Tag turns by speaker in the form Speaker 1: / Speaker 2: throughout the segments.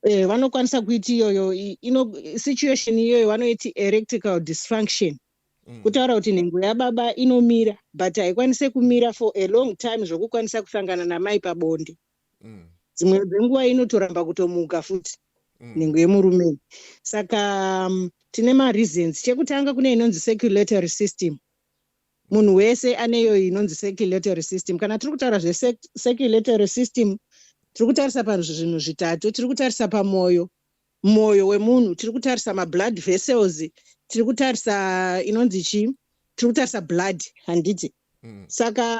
Speaker 1: eh, vanokwanisa kuiti iyoyo situation iyoyo vanoiti erectical dysfunction mm. kutaura kuti nhengo yababa inomira but haikwanise kumira for a long time zvokukwanisa kusangana namai pabonde mm. dzimwe dzenguva inotoramba kutomuka futi mm. nhengo yemurume saka um, tine mareasons chekutanga kune inonzi circulatory system munhu wese aneyo inonzi circulatory system kana tiri kutaura zvecirculatory system tiri kutarisa pazvinhu zvitatu tiri kutarisa pamwoyo mwoyo wemunhu tiri kutarisa mablood vessels tiri kutarisa inonzi chii tiri kutarisa blood handiti mm. saka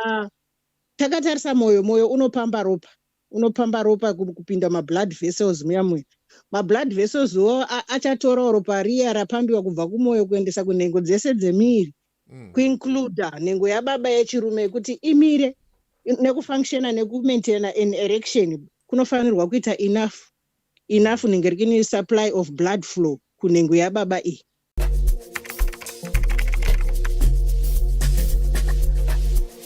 Speaker 1: takatarisa mwoyo mwoyo unopamba ropa unopamba ropa kupinda mablood vessels muya muya mablood vessels wo achatorawo ropa riya rapambiwa kubva kumwoyo kuendesa kunhengo dzese dzemiri mm. kuincluda nhengo yababa yechirume yekuti imire nekufunctiona nekumaintaina an erection kunofanirwa kuita enough enough nenge rikini supply of blood flow kunhengo yababa iyi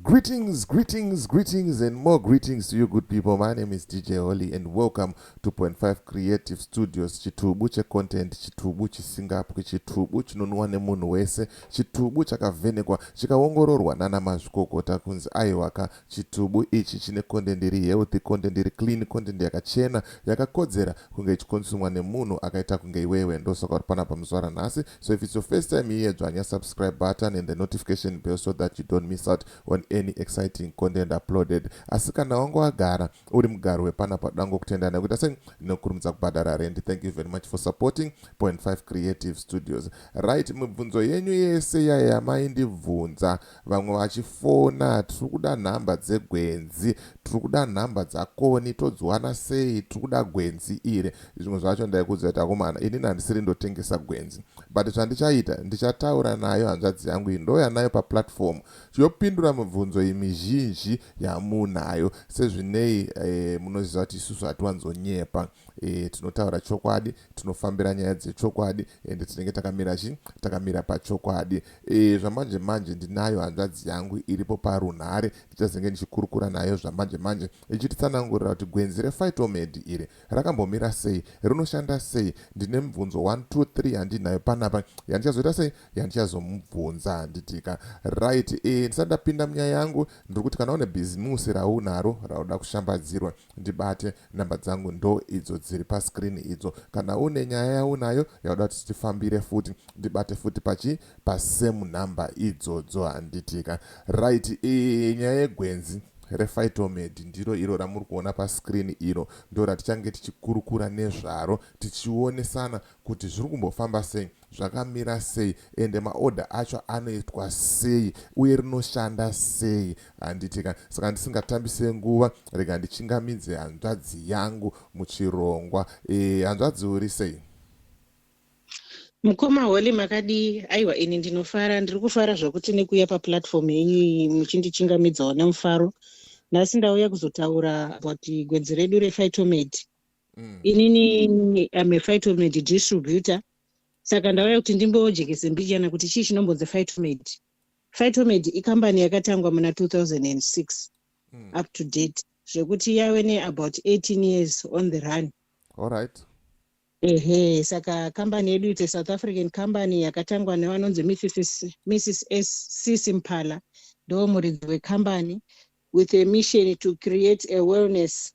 Speaker 2: Greetings, greetings, greetings, and more greetings to you, good people. My name is DJ Holly, and welcome to Point Five Creative Studios. Chitubu checontent, chitubu chisingapwi, chitubu chinonwa nemunhu wese, chitubu chakavhenekwa, chikaongororwa nana mazvikokota kunzi aiwaka. Chitubu ichi chine content iri healthy, content iri clean, content yakachena, yakakodzera kunge ichikonsumwa nemunhu akaita kunge iwewe. Ndosaka uri panapa muzuva ranhasi, So if it's your first time here, dzvanya subscribe button and the notification bell so that you don't miss out on any exciting content uploaded. Asi kana wangu wagara uri mugaro wepana padango kutenda nekuita sei ndinokurumidza kubhadhara rendi. Thank you very much for supporting Point 5 Creative Studios. Right, mibvunzo yenyu yese yaya maindibvunza Vamwe vachifona tiri kuda nhamba dzegwenzi tiri kuda nhamba dzakoni todziwana sei tiri kuda gwenzi iri zvimwe zvacho ndaikuudzai kuti akomana inini handisiri ndotengesa gwenzi but zvandichaita ndichataura nayo hanzvadzi yangu iyi ndouya nayo paplatform yopindura mibvunzo imizhinji yamunayo sezvinei e, munoziva kuti isusu hatiwanzonyepa e, tinotaura chokwadi tinofambira nyaya dzechokwadi ende tinenge takamira chi takamira pachokwadi Eeh zvamanje manje ndinayo hanzvadzi yangu iripo parunhare ndichazenge ndichikurukura nayo zvamanje manje ichititsanangurira kuti gwenzi rePhytomed iri rakambomira sei, rinoshanda sei, ndine mibvunzo one two three yandinayo panapa yandichazoita sei yandichazomubvunza handitika right eeh ndisati ndapinda munyaya yangu ndiri kuti kana une bhizimusi raunaro rauda kushambadzirwa Ndibate, number dzangu ndo idzo dziri pa screen idzo. Kana une nyaya yaunayo yauda kuti tifambire futi ndibate futi pachi pa same number idzodzo handiti ka. Right eeh nyaya yegwenzi re Phytomed ndiro iro ramuri kuona pa screen iro ndo ratichange tichikurukura nezvaro tichionesana kuti zviri kumbofamba sei. zvakamira sei ende maorder acho anoitwa sei uye rinoshanda sei handiti ka saka ndisingatambise nguva rega ndichingamidze hanzvadzi yangu muchirongwa e, hanzvadzi uri sei mukoma
Speaker 1: holy makadii aiwa ini ndinofara ndiri kufara zvakuti nekuuya paplatform yenyu iyi muchindichingamidzawo nemufaro nhasi ndauya kuzotaura about gwedzi redu rephytomate mm. inini am a fightomade distributor saka ndauya kuti ndimbojekese mbichana kuti chii chinombonzi fightomade fightomade ikambani yakatangwa muna 2006 mm. up to date zvekuti yave neabout 18 years on the run all right
Speaker 2: ehe
Speaker 1: saka kambani yedu ite south african company yakatangwa nevanonzi mrs cc mpala ndo muridzi wekambani with a mission to create a wellness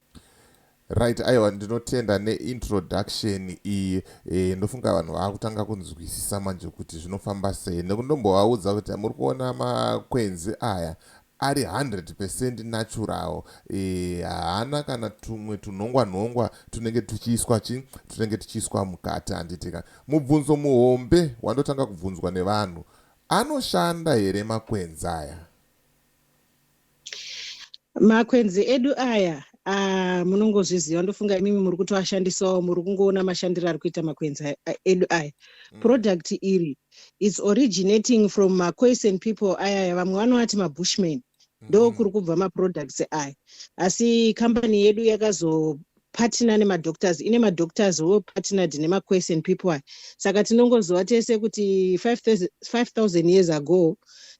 Speaker 1: Right
Speaker 2: aiwa ndinotenda neintroduction iyi e, ndofunga vanhu vakutanga kunzwisisa manje kuti zvinofamba sei nekuti ndombovaudza kuti muri kuona makwenzi aya ari 100 percent natural eh, haana e, kana tumwe tunhongwa nhongwa tunenge tuchiiswa chi tunenge tuchiiswa mukati handitika mubvunzo muhombe wandotanga kubvunzwa nevanhu anoshanda here makwenzi aya
Speaker 1: makwenzi edu aya ah, munongozviziva ndofunga imimi muri kutoashandisawo muri kungoona mashandiro ari kuita makwenzi edu aya mm. product iri its originating from macoisen people ayaya vamwe vanovati mabushman ndo mm-hmm. kuri kubva maproducts aya asi kambani yedu yakazo partner nemadoctors ine madoctors wo partnered nemaquestion people aya saka tinongoziva tese kuti 5000 years ago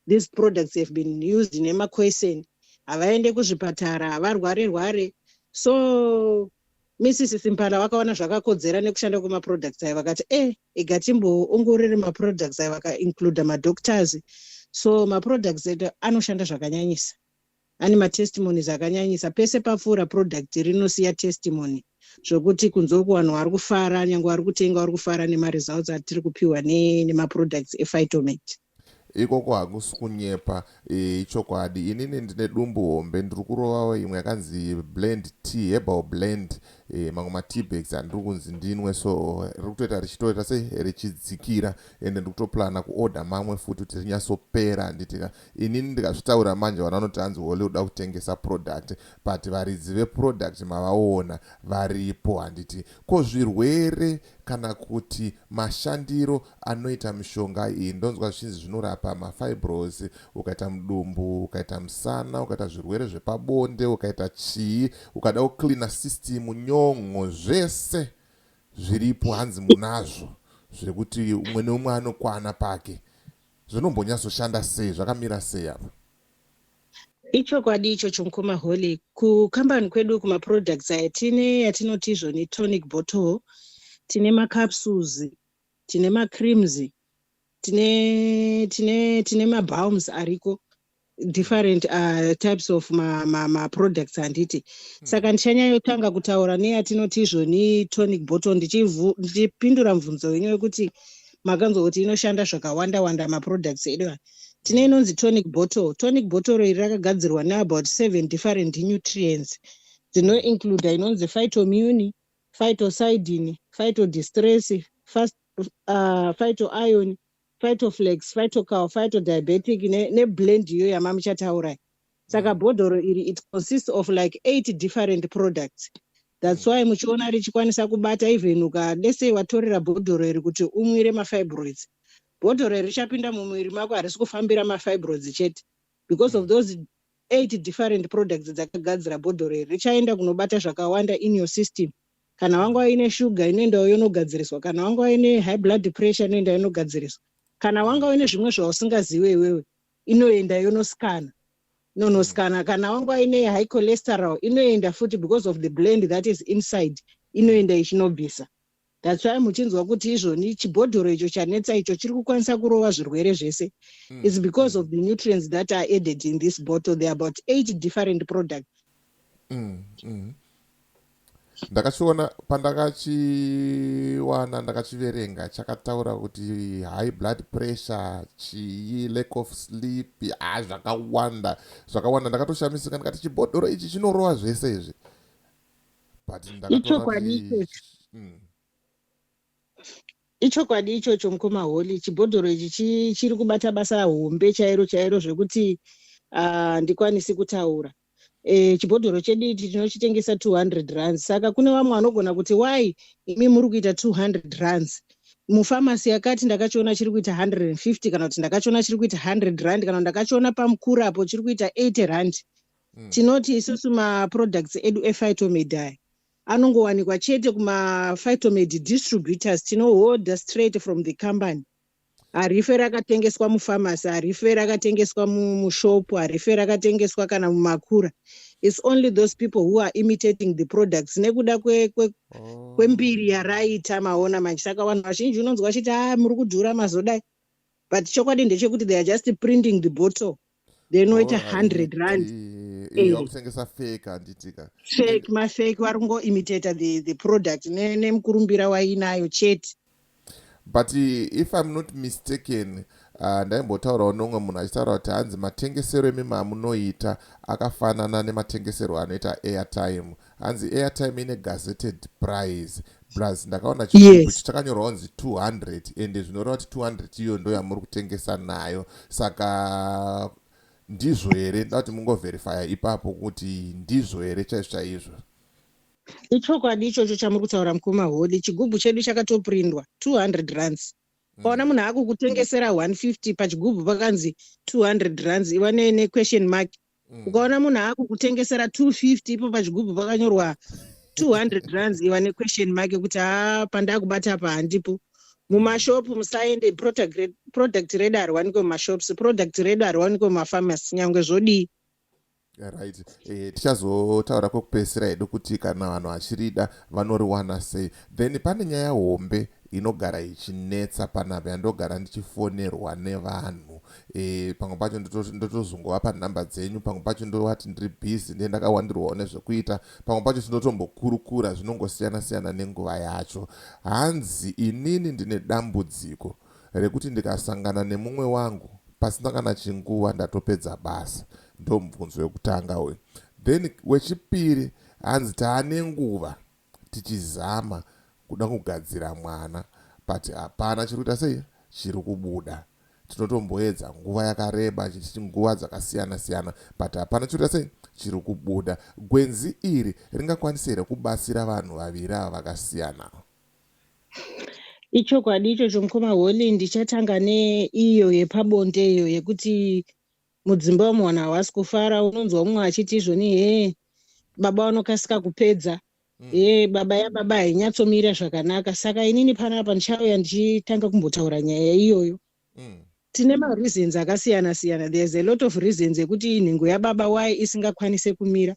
Speaker 1: these products have been used nemaquestion havaende kuzvipatara havarware rware so mrs simpala vakaona zvakakodzera nekushanda kwemaproducts ayo vakati e eh, ega timboongorere maproducts ayo vakaincluda madoctors so maproducts edu anoshanda zvakanyanyisa Ane matestimonies akanyanyisa. Pese papfuura product rinosiya testimony zvokuti kunze uku vanhu vari kufara nyange vari kutenga vari kufara nemaresults atiri kupiwa nemaproducts ephytomet ikoko
Speaker 2: hakusi kunyepa e, ichokwadi e, inini ndine dumbu hombe ndiri kurovawo imwe yakanzi blend t herbal blend e, mamwe mateabags andiri kunzi ndinwe so riri kutoita richitoita se richidzikira ende ndiri kutoplana kuorder mamwe futi kuti rinyatsopera handitika Inini ndikazvitaura manje vanhu vanoti hanzi Holy uda kutengesa product but varidzi veproduct mavaona varipo handiti. Ko zvirwere kana kuti mashandiro anoita mishonga iyi ndonzwa zvichinzi zvinorapa mafibros ukaita mudumbu ukaita musana ukaita zvirwere zvepabonde ukaita chii ukada kucleana system nyon'o zvese zviripo hanzi munazvo zvekuti umwe neumwe anokwana pake Zvinombonyatsoshanda sei? Zvakamira sei apa?
Speaker 1: Ichokwadi ichocho mukoma Holly. Kukambani kwedu uku maproducts aya tine yatinoti izvo netonic bottle, tine macapsules, tine macreams, tine tine tine mabalms ariko different uh, types of maproducts ma, ma handiti hmm. saka ndichanyayotanga kutaura neyatinoti izvoni tonic bottle ndichipindura mvunzo wenyu wekuti makanzwa kuti inoshanda zvakawanda wanda maproducts edu aya tine inonzi tonic bottle tonic bottle iri rakagadzirwa neabout seven different nutrients dzinoincluda inonzi phytomuni phytosidin phytodistress uh, phytoion phytoflex, phytocal, phytodiabetic ne ne blend iyo yamamuchataura iyi. Saka bhodhoro iri it consists of like eight different products. That's why muchiona richikwanisa kubata even uka let's say watorera bhodhoro iri kuti umwire mafibroids. Bhodhoro iri richapinda mumuviri mako harisi kufambira mafibroids chete because of those eight different products dzakagadzira bhodhoro iri richaenda kunobata zvakawanda in your system. kana wangova ine shuga inoendawo yonogadziriswa kana wangova ine high blood pressure inoenda yonogadziriswa kana wanga uine zvimwe zvausingaziwe iwewe inoenda yonosikana nonosikana mm. kana wanga uine high cholesterol inoenda futi because of the blend that is inside inoenda ichinobvisa that's why muchinzwa kuti izvoni chibhodhoro icho chanetsa icho chiri kukwanisa kurova zvirwere zvese mm. is because of the nutrients that are added in this bottle there about eight different products mm, mm.
Speaker 2: ndakachiona pandakachiwana ndakachiverenga chakataura kuti high blood pressure chii lack of sleep a zvakawanda zvakawanda ndakatoshamisika ndikati chibhodhoro ichi chinorowa zvese izvi but ndakatoona kuti mm.
Speaker 1: Ichokwadi ichocho mukoma Holy, chibhodhoro ichi chi- chiri kubata basa hombe chairo chairo zvekuti ah, ndikwanisi kutaura. Eh, chibhodhoro chedu ichi tinochitengesa 200 rands saka kune vamwe vanogona kuti why imi muri kuita 200 rands mufamasi yakati ndakachiona chiri kuita 150 kana kuti ndakachiona chiri kuita 100 rand kana kuti ndakachiona pamukuru apo chiri kuita 80 rand Mm. tinoti isusu maproducts edu ephytomedi aya anongowanikwa chete kumaphytomed distributors tinoholder straight from the company harife rakatengeswa mufamasi harife rakatengeswa mushopu harife rakatengeswa kana mumakura its only those people who are imitating the products nekuda oh. kwembiri kwe, kwe yaraita maona manje saka vanhu vazhinji unonzwa vachiti a ah, muri kudhura mazodai but chokwadi ndechekuti they are just printing the bottle then oita oh, hundred rand eh, vakutengesa
Speaker 2: fake handitika fake mafake
Speaker 1: vari kungoimitata the, the product nemukurumbira ne wainayo chete but
Speaker 2: if i'm not mistaken uh, ndaimbotaurawo nomwe munhu achitaura kuti hanzi matengesero emima amunoita akafanana nematengesero anoita airtime hanzi airtime ine gazetted price plus ndakaona chigubhu yes. chitakanyorwa kunzi 200 ende zvinoreva kuti 200 iyo ndo yamuri kutengesa nayo saka ndizvo here nda kuti mungoverifya ipapo kuti ndizvo here chaizvo chaizvo
Speaker 1: ichokwadi ichocho chamuri kutaura mukuru mahodi chigubhu chedu chakatoprindwa 200 runs mm. paona munhu akukutengesera 150 pachigubhu pakanzi 200 runs iva nequestion mark mm. mm. ukaona munhu akukutengesera 250 ipo pachigubhu pakanyorwa 200 runs iva nequestion make kuti a ah, pandakubata apa handipo mumashopu musaende product redu hariwanikwe mumashops product redu hariwanikwe mumafamasi nyange zvodii
Speaker 2: right eh, tichazotaura kwekupedzisira hedu kuti kana vanhu vachirida vanoriwana sei then pane nyaya hombe inogara ichinetsa panapa yandogara ndichifonerwa nevanhu e, pamwe pacho ndotozongovapa nhamba dzenyu pamwe pacho ndovati ndiri busy ndiye ndakawandirwawo nezvekuita pamwe pacho tinotombokurukura zvinongosiyana siyana nenguva yacho hanzi inini ndine dambudziko rekuti ndikasangana nemumwe wangu pasina kana chinguva ndatopedza basa ndomubvunzo wekutanga uyu then wechipiri hanzi taane nguva tichizama kuda kugadzira mwana but hapana chiri kuita sei chiri kubuda tinotomboedza nguva yakareba nguva dzakasiyana siyana but hapana chiri kuita sei chiri kubuda gwenzi iri ringakwanise here kubatsira vanhu vaviri ava vakasiyana
Speaker 1: ichokwadi ichocho mukoma holy ndichatanga neiyo yepabonde iyo yekuti mudzimba umu vanhu havasi kufara unonzwa umwe achiti izvoni hee baba vanokasika kupedza mm. hee baba yababa hainyatsomira zvakanaka saka inini pana apa ndichauya ndichitanga kumbotaura nyaya iyoyo mm. tine mareasons akasiyana siyana there's a lot of reasons ekuti nhengo yababa why isingakwanise kumira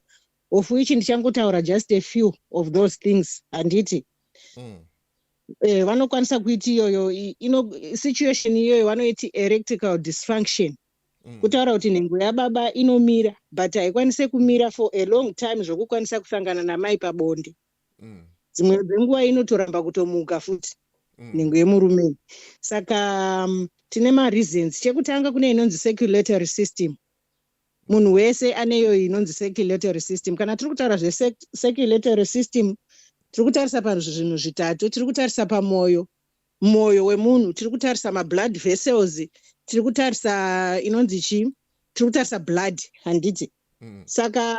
Speaker 1: of which ndichangotaura just a few of those things handiti mm. eh, vanokwanisa kuiti iyoyo ino situation iyoyo vanoiti erectical dysfunction mm. kutaura kuti nhengo yababa inomira but haikwanise kumira for a long time zvokukwanisa kusangana namai pabonde mm. dzimwe mm. dzenguva inotoramba kutomuka futi mm. nhengo yemurume saka um, tine mareasons chekutanga kune inonzi circulatory system mm. munhu wese aneyo inonzi circulatory system kana tiri kutaura zvecirculatory system tiri kutarisa pazvinhu zvitatu tiri kutarisa pamwoyo mwoyo wemunhu tiri kutarisa mablood vessels tiri kutarisa inonzi chii tiri kutarisa blood handiti mm. saka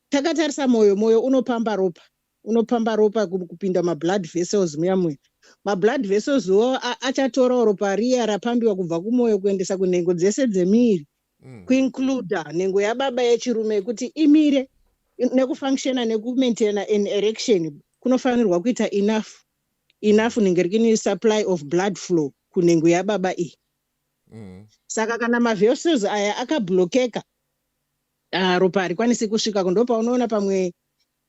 Speaker 1: takatarisa mwoyo mwoyo unopamba ropa unopamba ropa kupinda mablood vessels muya muya mablood vessels wo achatorawo ropa riya rapambiwa kubva kumwoyo kuendesa kunhengo dzese dzemiri mm. mm. kuincluda nhengo yababa yechirume yekuti imire nekufunctiona nekumaintaina an erection kunofanirwa kuita enough enough nenge rikini supply of blood flow kunhengo yababa iyi mm. saka kana mavessels aya akablokeka ah, ropa harikwanisi kusvika kundopa unoona pamwe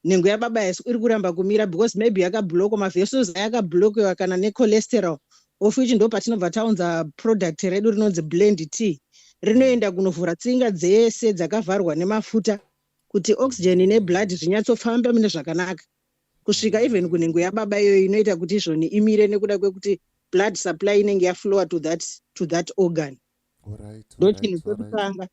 Speaker 1: nhengo yababa yaso iri kuramba kumira because maybe yakabloko mavessels ayakablokewa kana necholesterol of which ndo patinobva taunza product redu rinonzi blend t rinoenda kunovhura tsinga dzese dzakavharwa nemafuta kuti oxygen neblood zvinyatsofamba mune zvakanaka kusvika even kunhengo yababa iyoyo inoita kuti izvoni imire nekuda kwekuti blood supply inenge yaflower to that, to that organ ndo chinhu chekutanga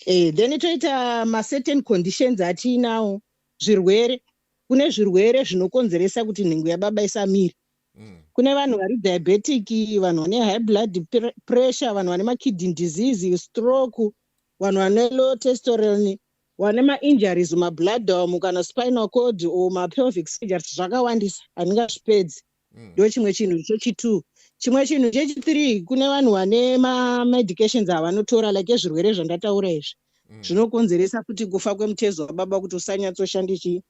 Speaker 1: eh, then toita macertain conditions atiinawo zvirwere kune zvirwere zvinokonzeresa kuti nhengo yababa isamire mm. kune vanhu vari diabetic vanhu vane high blood pressure vanhu vane makidney disease stroke vanhu vane low testoron vane mainjuries mabloodom kana spinal cord or mapelvic surgeries zvakawandisa handingazvipedzi mm. ndo chimwe chinhu chechitwo chimwe chinhu chechithree kune vanhu vane mamedications avanotora like ezvirwere zvandataura izvi mm. zvinokonzeresa mm. kuti kufa kwemutezo wababa kuti usanyatsoshandi chii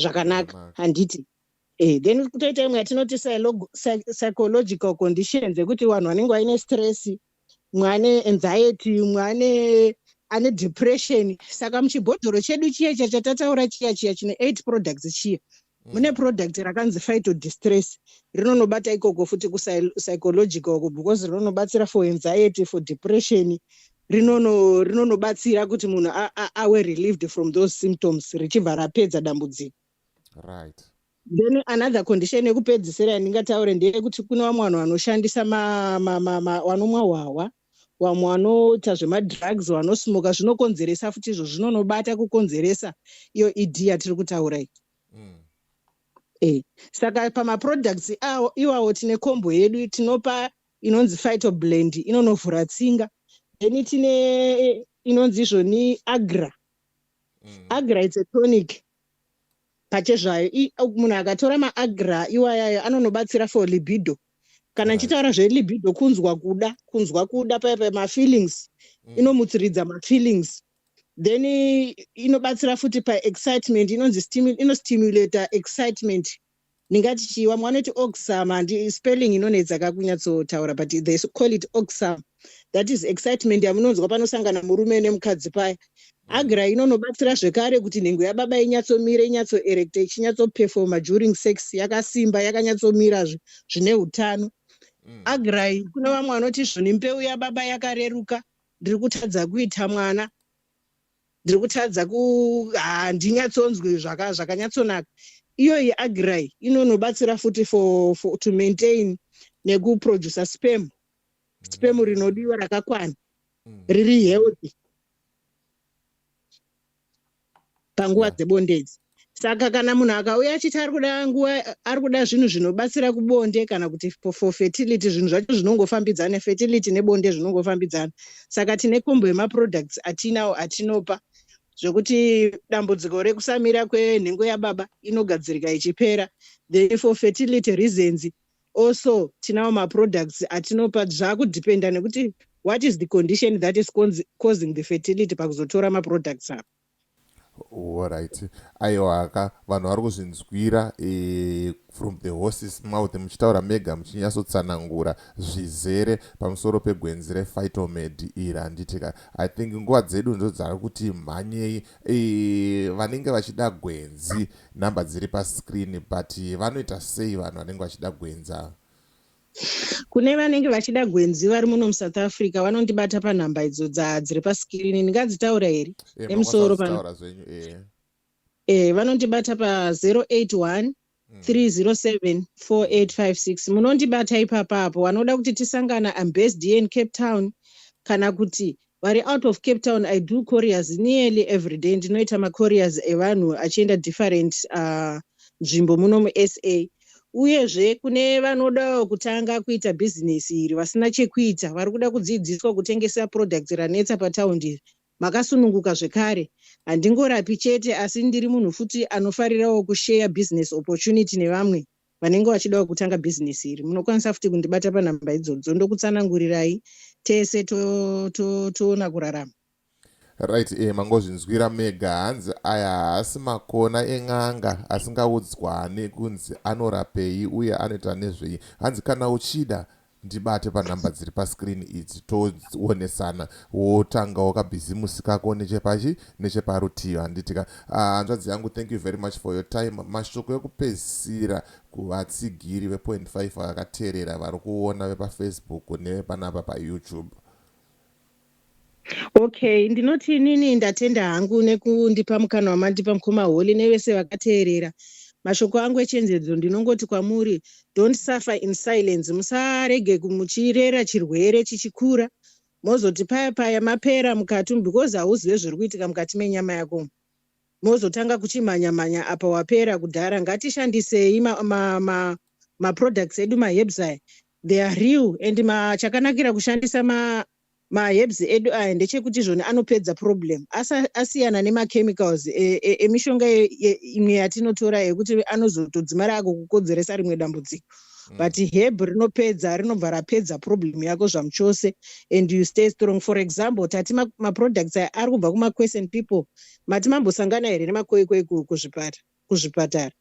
Speaker 1: zvakanaka handiti mm. Eh, then kutoita imwe yatinoti psychological conditions ekuti vanhu vanenge vaine stress mwane anxiety mwane ane depression saka muchibhodhoro chedu chiya chiya chatataura chiya chiya chine eight products chiya mm. mune product rakanzi fito distress rinonobata ikoko futi kupsychological ko because rinonobatsira for anxiety for depression rinonobatsira rinono kuti munhu awe relieved from those symptoms richibva rapedza dambudziko right
Speaker 2: then
Speaker 1: another condition yekupedzisira yandingataure ndeyekuti kune vamwe vanhu vanoshandisa vanomwa hwahwa vamwe vanoita zvemadrugs vanosmoka zvinokonzeresa futi izvo zvinonobata kukonzeresa iyo ed yatiri kutaura iyi mm. e saka pamaproducts awo iwawo tine kombo yedu tinopa inonzi fito blend inonovhura tsinga then tine inonzi izvoni agra mm. agra its a tonic pachezvayo munhu akatora maagra iwayayo anonobatsira for libido kana ichitaura zvelibido kunzwa kuda kunzwa kuda paya paya mafeelings mm. inomutsiridza mafeelings then inobatsira futi paexcitement inonzi inostimulator excitement ndingati chii vamwe vanoti oxam handi spelling inonetsa kakunyatsotaura but they call it oxam that is excitement yamunonzwa panosangana murume nemukadzi paya mm. agra inonobatsira zvekare kuti nhengo yababa inyatsomira inyatsoerecta ichinyatsopefoma during sex yakasimba yakanyatsomirazve zvine utano mm. agrai kune vamwe vanoti zvoni mbeu yababa yakareruka ndiri kutadza kuita mwana ndiri kutadza ku handinyatsonzwi zvaka zvakanyatsonaka iyoyi agrai inonobatsira futi for, for to maintain nekuproducer spam spam rinodiwa rakakwana mm. riri healthy panguva dzebondedzi saka kana munhu akauya achiti ari kuda nguva ari kuda zvinhu zvinobatsira kubonde kana kuti for fertility zvinhu zvacho zvinongofambidzana fertility nebonde zvinongofambidzana saka tine kombo yemaproducts atinawo atinopa zvekuti dambudziko rekusamira kwenhengo yababa inogadzirika ichipera the for fertility reasons also tinawo maproducts atinopa zvakudependa nekuti what is the condition that is causing the fertility pakuzotora maproducts avo Horaiti
Speaker 2: aiwaka vanhu vari kuzvinzwira eh, from the horses mouth muchitaura mega muchinyatsotsanangura zvizere pamusoro pegwenzi rephytomed iri handitika i think nguva dzedu ndo dzava kuti mhanyei eh, vanenge vachida gwenzi number dziri pascreen but vanoita sei vanhu vanenge vachida gwenzi ava
Speaker 1: kune vanenge vachida gwenzi vari muno musouth africa vanondibata panhamba idzo dzadziri pasikirini ndingadzitaura here eh, nemusoro pano eh. eh, vanondibata pa081 3074856 munondibata ipapa apo vanoda kuti tisangana ambased here in cape town kana kuti vari out of cape town i do couriers nearly every day ndinoita macouriers evanhu achienda different uh, nzvimbo uh, muno musa uyezve kune vanodawo kutanga kuita bhizinesi iri vasina chekuita vari kuda kudzidziswa kutengesa products ranetsa pataundi iri makasununguka zvekare handingorapi chete asi ndiri munhu futi anofarirawo kusheya business opportunity nevamwe vanenge vachidawo kutanga bhizinesi iri munokwanisa futi kundibata panhamba idzodzo ndokutsanangurirai tese toona to, to, to kurarama right e
Speaker 2: eh, mangozvinzwira mega hanzi aya haasi makona en'anga asingaudzwane kunzi anorapei uye anoita nezvei hanzi kana uchida Ndibate panumber dziri pascreen idzi toonesana wotanga wakabhizimusi kako nechepachi necheparutivi handitika ah, hanzvadzi yangu thank you very much for your time mashoko ekupedzisira kuvatsigiri vepoint 5 vakaterera vari kuona vepafacebook nevepanapa payoutube
Speaker 1: Okay, ndinoti inini ndatenda hangu nekundipa mukana wamandipa mukoma Holy nevese vakateerera. Mashoko angu echenjedzo ndinongoti kwamuri don't suffer in silence, musarege ku- muchirera chirwere chichikura mozoti paya paya mapera mukati umu because hauzive zviri kuitika mukati menyama yako umu. mozotanga kuchimhanya mhanya apa wapera kudhara. Ngatishandisei ma, ma, ma, ma products edu ma herbs aya they are real and ma, chakanakira kushandisa ma maherbs edu aya ndechekuti izvoni anopedza problem asiyana nemachemicals e, e, emishonga e, imwe yatinotora yekuti anozotodzimara ako kukodzeresa rimwe dambudziko mm. but herb rinopedza rinobva rapedza problem yako zvamuchose and you stay strong for example tati maproducts aya ari kubva kumaquestion people mati mambosangana here nemakoikoi kuzvipatara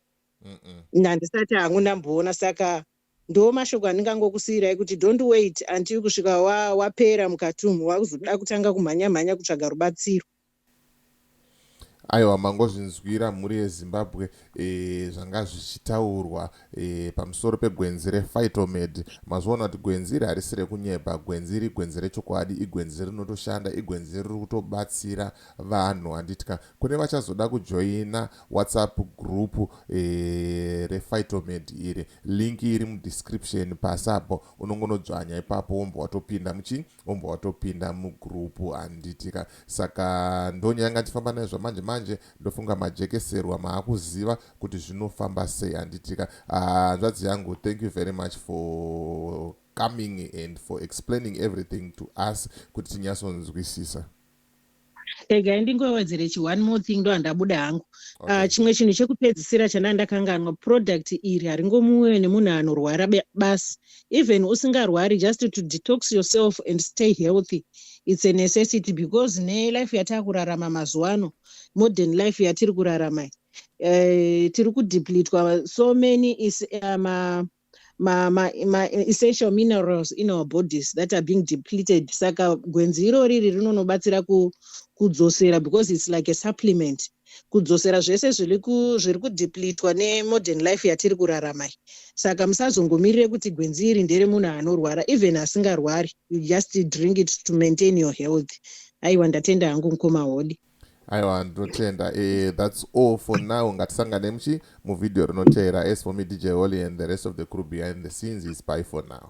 Speaker 1: handisati hangu ndamboona saka Ndoo mashoko andingangokusiirai kuti don't wait until kusvika wa, wapera mukati umu wakuzoda kutanga kumhanya mhanya kutsvaga rubatsiro.
Speaker 2: Aiwa mangozvinzwira mhuri yeZimbabwe e, zvanga zvichitaurwa e, pamusoro pegwenzi reFightomed. Mazviona kuti gwenzi iri harisi rekunyeba, gwenzi iri igwenzi rechokwadi, igwenzi rinotoshanda, igwenzi riri kutobatsira Vanhu handiti ka kune vachazoda kujoina whatsapp group re Phytomed iri. Link iri mu description pasi apo unongonodzvanya ipapo wombva watopinda muchi wombva watopinda mu group handiti ka. Saka ndonye yanga ndichifamba nayo zvamanje manje ndofunga majekeserwa maakuziva kuti zvinofamba sei handiti ka. Hanzvadzi yangu thank you very much for coming and for explaining everything to us kuti tinyasonzwisisa.
Speaker 1: regai ndingowedzere chi one more thing ndohandabuda hangu ah, okay. uh, chimwe chinhu chekupedzisira chandanga ndakanganwa product iri haringomuwe nemunhu anorwara basi even usingarwari just to detox yourself and stay healthy its a necessity because nelife yatava kurarama mazuva ano modern life yatiri kurarama uh, tiri kudeplitwa so many is uh, ma, ma, ma essential minerals in our bodies that are being depleted saka gwenzi iro riri rinonobatsira ku, kudzosera because it's like a supplement kudzosera zvese zviri kudeplitwa nemodern life yatiri kurarama iyi saka musazongomirire kuti gwenzi iri ndere munhu anorwara even asingarwari you just drink it to maintain your health aiwa ndatenda hangu mukoma hodi aiwa
Speaker 2: ndinotenda eh, that's all for now ngatisangane muchi muvhidhiyo rinoteera as for me dj holy and the rest of the crew behind the scenes is by for now